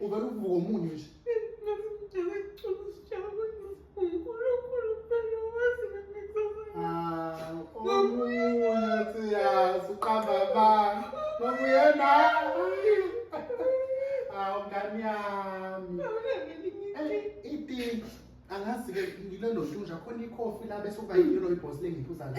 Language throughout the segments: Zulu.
Uvela uvuka omunye nje. Ah, omunye siyazi uqamba abantu. Ngokuyena. Ah, ngani yami. Ipinki. Angazi ke ngilelo ntunja khona ikhofi la bese uba yilo ibhosi lengiphuza la.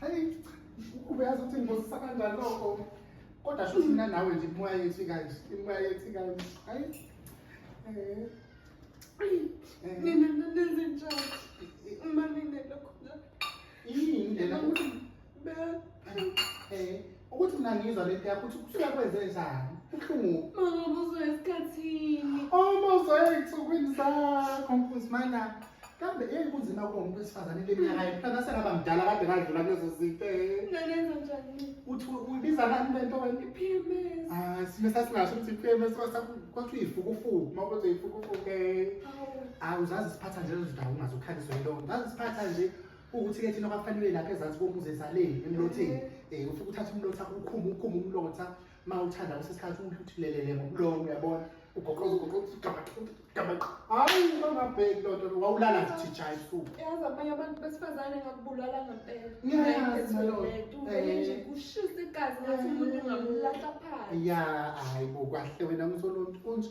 Hayi, ukube yazi ukuthi ngibosisa kanjani lokho. Kodwa sho mina nawe nje imoya yethu ikanje, imoya yethu ikanje. Hayi. Eh. Eh. Nina nenze njani? Uma nine lokho. Yini lena? Be. Eh. ukuthi mina ngizwa lento yakho ukuthi kusuke kwenze njani ubuhlungu mama ubuzwa esikhathini uma uzwa ey'nsukwini zakho mfuzi mana kambe eyi kunzima kulo muntu wesifazane le minyaka yethu kanti asengaba mdala kade kadlula kulezo zinto nganenza njani uthi uyibiza ngani lento wena i-pms hayi sime sasingasho ukuthi i-pms kwathi uyifukufuku uma ukuthi uyifukufuku ke awu zazi siphatha nje lezo ndawo ungazokhaliswa yilona zazi siphatha nje ukuthi-ke thina kwafanele lapha ezansi komuzi ezaleni emlotheni um ufike uthatha umlotha ukhume ukhume umlotha uma uthanda kusesikhathi uthulelele ngomlomo uyabona ugoqoza ugoqozagamaqo hayi bangabheki loo nto wawulala ndithija esuku yazi abanye abantu besifazane ngakubulala ngempela nje kushisa igazi ngathi umuntu ungamlahla phansi ya hayi bo kwahle wena msolonto kunje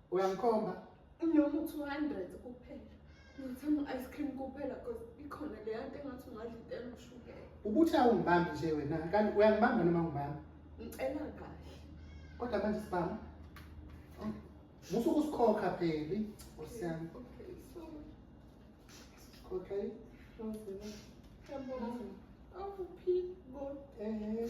uyangikhomba noma u-200 kuphela ngithanda u-ice cream kuphela cause ikhona leya nto engathi ungadla into enoshukela ubuthi awungibambi nje wena kanti uyangibamba noma ngibamba ngicela kahle kodwa manje sibamba musa ukusikhokha pheli osiyami okay so okay awuphi bo ehe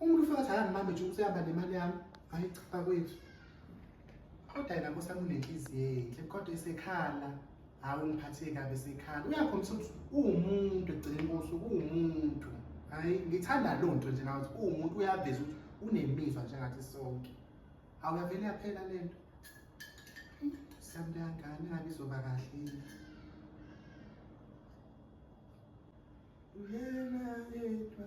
Umuntu ufika athi angibambe nje usehamba nemali yami. Hayi cha bakwethu. Kodwa yena Nkosi yami unenhliziyo enhle kodwa isekhala. Hawu ngiphatheke kabi sekhala. Uyakhombisa ukuthi uwumuntu egcine Nkosi uwumuntu. Hayi ngithanda lo nto nje ngathi uwumuntu uyaveza ukuthi unemizwa njengathi sonke. Hawu yavele yaphela le nto. Siyamntu yangane ngabe izoba kahle. Uyena yedwa.